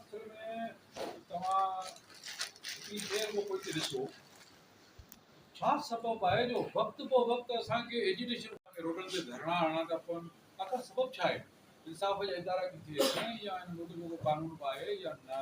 اصل ۾ توهان اتري دير ۾ پوئتي ڏسو ڇا سبب آهي جو وقت بو وقت اسان کي ايجيوٽيشن کي روڊن تي ڌرڻا هڻڻا ٿا پون آخر سبب ڇا آهي انصاف جا ادارا ڪٿي آهن يا ان ملڪ جو ڪو قانون به آهي يا نه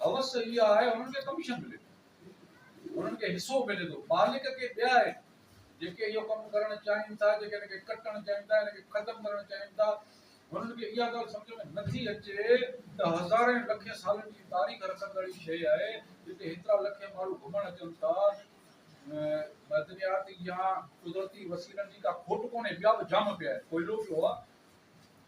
حوس اها آهي انهن کي ڪميشن ملي ٿي انهن کي حصو ملي ٿو مالڪ ڪي ٻيا آهن جيڪي اهو ڪم ڪرڻ چاهين ٿا جيڪي هن کي ڪٽڻ چاهين ٿا هن کي ختم ڪرڻ چاهين ٿا انهن کي اها ڳالهه سمجهه ۾ نٿي اچي ته هزارين لکين سالن جي تاريخ رکندڙ هي شيء آهي جتي هيترا لکين ماڻهو گهمڻ اچن ٿا معدنيات يا قدرتي وسيلن جي ڪا کوٽ ڪونهي ٻيا به جام پيا آهن ڪوئلو پيو آهي